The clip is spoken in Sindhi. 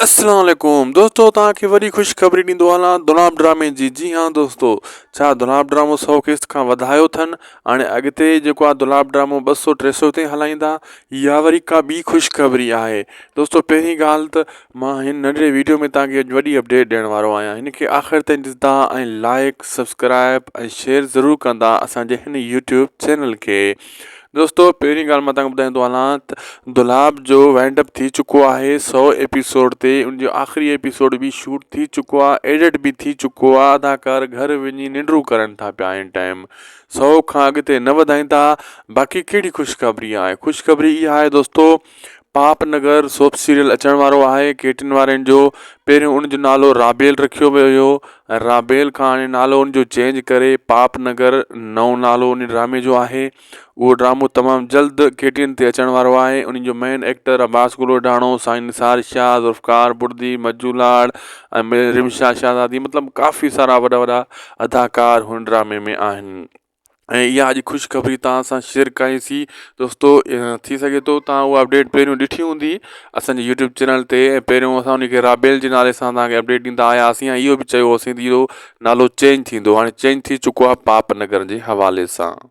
السلام عليڪم دوستو توهان کي وري خوش خبري ڏيندو هلان دوناب ڊرامي جي جي ها دوستو ڇا دوناب ڊرامو سو قسط کان وڌايو ٿن هاڻي اڳتي جيڪو آ دوناب ڊرامو ٻه سو ٽي سو تائين هلائيندا يا وري ڪا ٻي خوش خبري آهي دوستو پهرين ڳالهه ته مان هن ننڍڙي ويڊيو ۾ توهان کي اڄ وڏي اپڊيٽ ڏيڻ وارو آهيان هن کي آخر تائين ڏسندا ۽ لائيڪ سبسڪرائيب ۽ شيئر ضرور ڪندا اسان جي هن يوٽيوب چينل کي دوستو پهرين ڳالهه مان تهانکي ٻڌائيندو هلان ته دولاب جو وائنڊ اپ ٿي چڪو آهي سؤ ايپيسوڊ تي ان جو آخري ايپيسوڊ به شوٽ ٿي چڪو آهي ايڊٽ به ٿي چڪو آهي اداڪار گهر وڃي ننڊون ڪرن ٿا پيا ان ٽائيم سؤ کان اڳتي نه وڌائيندا باقي ڪهڙي خوشخبري آهي خوشخبري اها آهي دوستو پاپ نگر سوپ سيريل اچڻ وارو آهي ڪيٽن وارين جو پهريون ان جو نالو رابيل رکيو ويو هيو ۽ رابيل کان هاڻي نالو ان جو چينج ڪري پاپ نگر نئون نالو ان ڊرامي جو آهي اهو ڊرامو تمام جلد ڪيٽين تي اچڻ وارو آهي ان جو مين ايڪٽر عباس گلوئڊاڻو سائين نثار شاهه ذوالفقار بڙدي مجو لاڙ ۽ رمشا شاهزادي مطلب ڪافي سارا وڏا وڏا اداڪار هن ڊرامي ۾ آهن ۽ اها اڄ خوشخبري توهان سان شيئر ڪيائين سي دوستو ٿي سگهي ٿو توهان اها اپڊيٽ پهريون ڏٺي هوندي اسان جي يوٽيوب چينل تي ۽ پهريون اسان ان کي رابيل جي نالي سان توهان کي اپڊيٽ ڏيندا آيا هئاسين ۽ اهو به چيو هوسين ته اهو نالو چينج ٿيندو هاڻي چينج ٿي چڪو آهي پاپ نگر جي حوالي سان